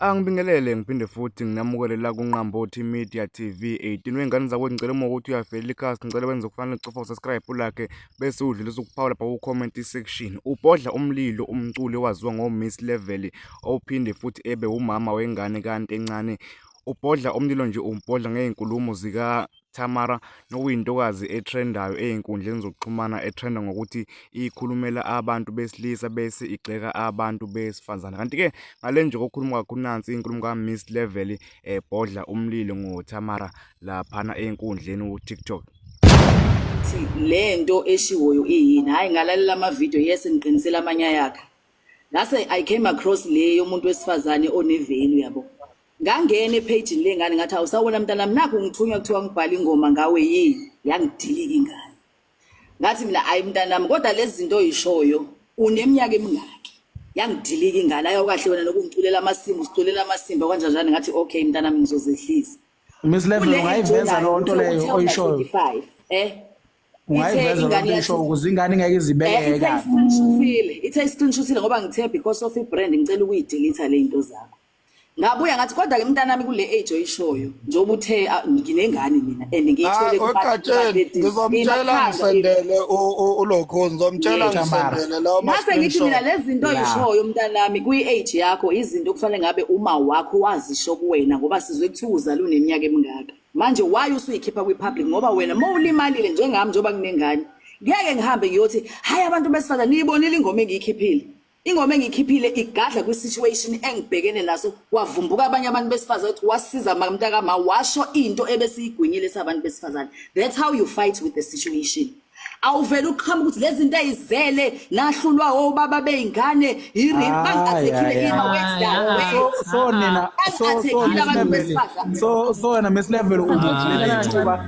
Angibingelele ngiphinde futhi nginamukele la kuNqambothi Media TV 18 wey'ngane zakwethu ngicela uma ukuthi uyavelela ikhasi ngicela wenze okufanele ucofa usubscribe ulakhe bese udlulisa ukuphawula lapha ku-comment section ubhodla umlilo umculi owaziwa ngo-Miss Level ophinde futhi ebe umama wengane kanti encane ubhodla umlilo nje umbhodla ngey'nkulumo zika Tamara, nokuyintokazi ethrendayo ezinkundleni zokuxhumana ethenda ngokuthi ikhulumela abantu besilisa bese igxeka abantu besifazane. Kanti-ke ngale nje kokukhuluma kwakho nansi inkulumo ka-Miss Level ebhodla eh, umlilo ngoTamara laphana ezinkundleni uTikTok. Le nto eshiwoyo iyini? Hhayi ngalalela amavidiyo yes ngiqinisele amanye ayakhe. Ngase I came across le yomuntu wesifazane onevelu yabo. ngangena ephejini lengane ngathi awusawona mntanami nakho ngithunywa kuthiwa ngibhale ingoma ngawe yini yangidilika ingane ngathi mina ayi mntanami kodwa lezi zinto oyishoyo uneminyaka emingaki yangidilika ingane ayokahle wena nokungiculela amasimba usiculela amasimba kwanjanjani ngathi okay mntanami ngizozehlisa miss level ungayiveza loo nto leyo oyishoyo eh ungayiveza loo nto oyishoyo ukuze ingane ingeke izibeke eh, kahle ithe isiqinishisile ngoba ngithe because of i-brand ngicela ukuyidelitha le zinto zakho ngabuya ngathi kodwa ke mntanami kule age oyishoyo njengoba uthe ah, nginengane mina and ngiyithole ah, kuqatsheni ngizomtshela ngisendele ulokho ngizomtshela ngisendele lawo mase ngithi mina lezi zinto oyishoyo mntanami kwi age yakho izinto okufanele ngabe uma wakho wazisho kuwena ngoba sizwe kuthiwa uzalwe uneminyaka emingaka manje why usuyikhipha kwi public ngoba wena uma ulimalile njengami njengoba kunengane ngeke ngihambe ngiyothi hayi abantu besifazane niyibonile ingoma engiyikhiphile Ingoma engikhiphile igadla kwi situation engibhekene naso kwavumbuka abanye abantu besifazane ukuthi wasiza mntaka ma washo into ebesiyigwinyile sabantu besifazane that's how you fight with the situation awuvele uqhamuka ukuthi lezi zinto ayizele nahlulwa obaba beyingane yirip bangathekile ima wethu so nina so so so wena mesilevel ubuthile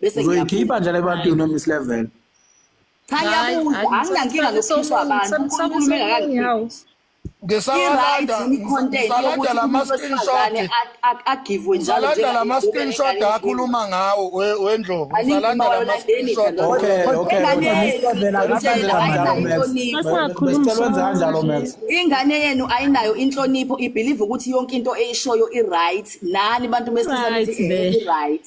bese uzoyikhipha nje le bantu no miss level cha yabuza anginankinga nokukhishwa abantu unkulunkulu mengakangiphi ngisalanda ngisalanda lama screenshot agivwe njalo ngisalanda lama screenshot akhuluma ngawo wendlovu ngisalanda lama screenshot okay okay ingane yenu ayinayo inhlonipho ibelieve ukuthi yonke into eyishoyo i right nani bantu besilisa i right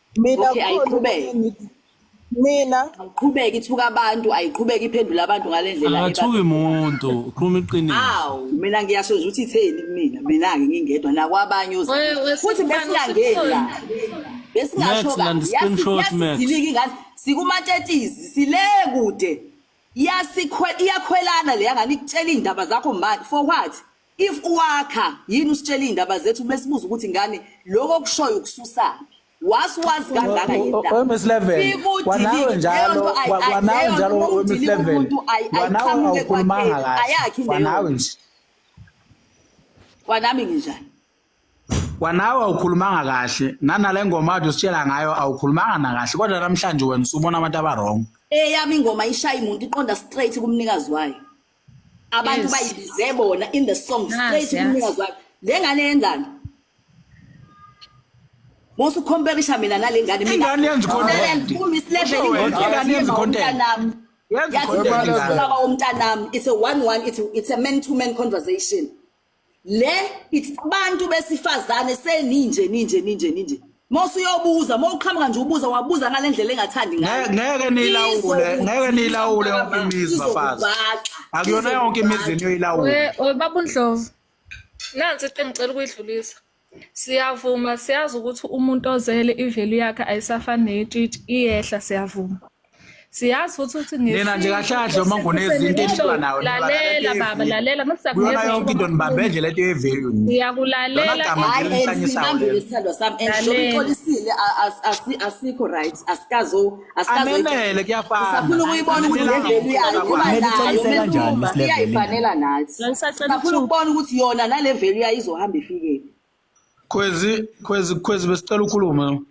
mina Okay, khona ayiqhubeke. okunye ngithi mina Ayiqhubeke ithuka abantu, ayiqhubeke iphendula abantu ngale ndlela akathuki eba- muntu ukhuluma iqiniso Awu, mina ngiyasho nje ukuthi itheni kumina. Mina-ke ngingedwa nakwabanye Wewe, ozayo. wewe, Futhi Sibani, besingangeni la. usukhona. Besingasho Max, landa i-screenshot, Max. yasidilika ingane. Sikumatetizi, sile kude. Yasikhwe iyakhwelana le yangane ikutshela iy'ndaba zakho manje. For what? If uwakha yini usitshela iy'ndaba zethu besibuza ukuthi ngane lokho okushoyo ukususaphi wasi wazi kangaka yewemis level kwanawe njalo kwanawe njalo wemis level kwanawe awukhulumanga kahle kwanawe nje kwanami nginjani kwanawe awukhulumanga kahle nanale ngoma ade usitshela ngayo awukhulumanga nakahle kodwa namhlanje wena usubona abantu abarong eyami ingoma ishaya imuntu iqonda straight kumnikazi wayo abantu Yes. bayibize bona in the song Nazi, straight yazi. kumnikazi wakhe le ngane yenzani musu competition mina nale ngane mina Ingane yenza i-content. Ku Miss Level Usho wena, ingane ingane yenza i-content. yomntanami. Yenza Yathi i-content ingane. ubaba womntanami it's a one one it's, it's a man to man conversation le it's abantu besifazane seninje ninje ninje ninje Mose uyobuza mawuqhamuka nje ubuza wabuza ngalendlela engathandi ngayo ngeke nilawule ngeke nilawule yonke imizi bafazi akuyona yonke imizi eniyilawula we babu Ndlovu nansi iqembu cela ukuyidlulisa Siyavuma siyazi ukuthi umuntu ozele ivelu yakhe ayisafani neyetshitshi iyehla siyavuma. Siyazi futhi ukuthi Nina nje kahle kahle uma ngunezinto enilwa nawo. Lalela baba lalela mase Kuyona siyakunikeza yonke into nibambe nje lento yevalue. nje. Ngiyakulalela Lona gama hayi nje and lihlanyisa sibambe wena. lesithandwa sami and Lalela. njengoba uxolisile a- as- asi- asikho right asikazo anenele kuyafanausafuna ukuyibona ukuthi levelu yayo kuba nayo mesuma iyayifanela nathi safuna ukubona ukuthi yona nale velu yayo izohamba ifikephi khwezi khwezi khwezi besicela ukhulume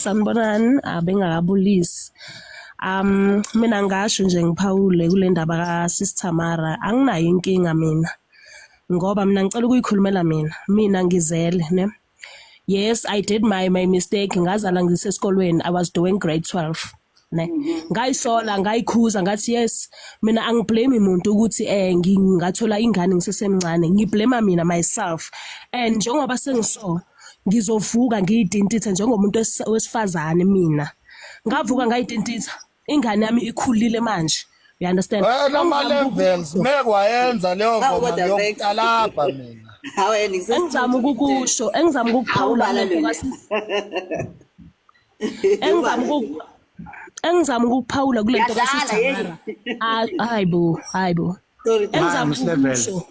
sanibonani abengakabulisi um mina ngasho nje ngiphawule kule ndaba kasisi tamara anginayo inkinga mina ngoba mina ngicela ukuyikhulumela mina mina ngizele ne yes i did my my mistake ngazala ngisesikolweni i was doing grade 12 ne mm-hmm. ngayisola ngayikhuza ngathi yes mina angiblame umuntu ukuthi eh ngingathola ingane ngisesemncane ngiblame mina myself and njengoba sengiso ngizovuka ngiyidintithe njengomuntu wesifazane mina ngavuka ngayidintitha ingane yami ikhulile manje you understand wena ama levels mekwayenza leyo ngoma ngiyokutalabha mina hawe engizama ukukusho engizama ukukuphawula engizama ukuku engizama ukukuphawula kule nto kasithandara hayi bo hayi bo engizama ukukusho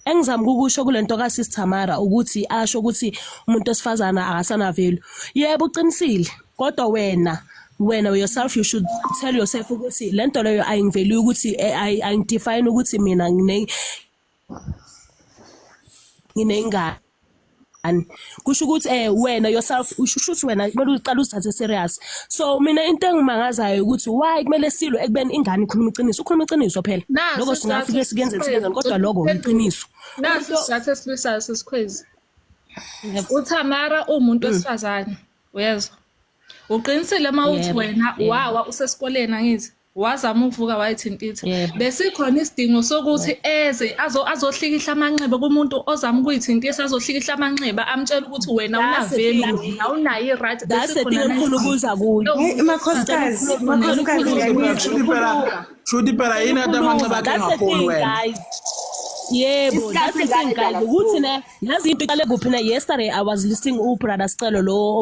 engizama ukusho kulento ka Sis Tamara ukuthi asho ukuthi umuntu osifazana akasanavelu yebo uqinisile kodwa wena wena yourself you should tell yourself ukuthi lento leyo ayingiveli ukuthi eh, ayingidefine ukuthi mina ngine nginengane kusho ukuthi eh wena yourself usho ukuthi wena kumele uqale uzithathe serious so mina into engimangazayo ukuthi why kumele silwe ekubeni ingane ikhuluma iqiniso ukhuluma iqiniso phela lokho singafike sikenze sibenzani kodwa lokho iqiniso naso sizathu esibisayo sesikhwezi uThamara umuntu mm. wesifazane uyezwa uqinisile uma uthi wena wawa usesikoleni angithi wazama ukuvuka wayithintitha Yebo. besikhona isidingo sokuthi eze azo- azohlikihla amanxeba kumuntu ozama ukuyithintisa azohlikihla amanxeba amtshela ukuthi wena That's the unaveli thing. ukuthi awunayo i-right that's the thing engifuna ukuza kuyo Hey, makhosikazi makhosikazi Shuthi ngiyakuthi shuthi phela shuthi phela yini ade amanxeba akhe that's the ngafoni thing wena guys yebo Discuss that's the thing ngani guys lana ukuthi ne yazi into iqale kuphi na yesterday i was listening u brother Scelo lo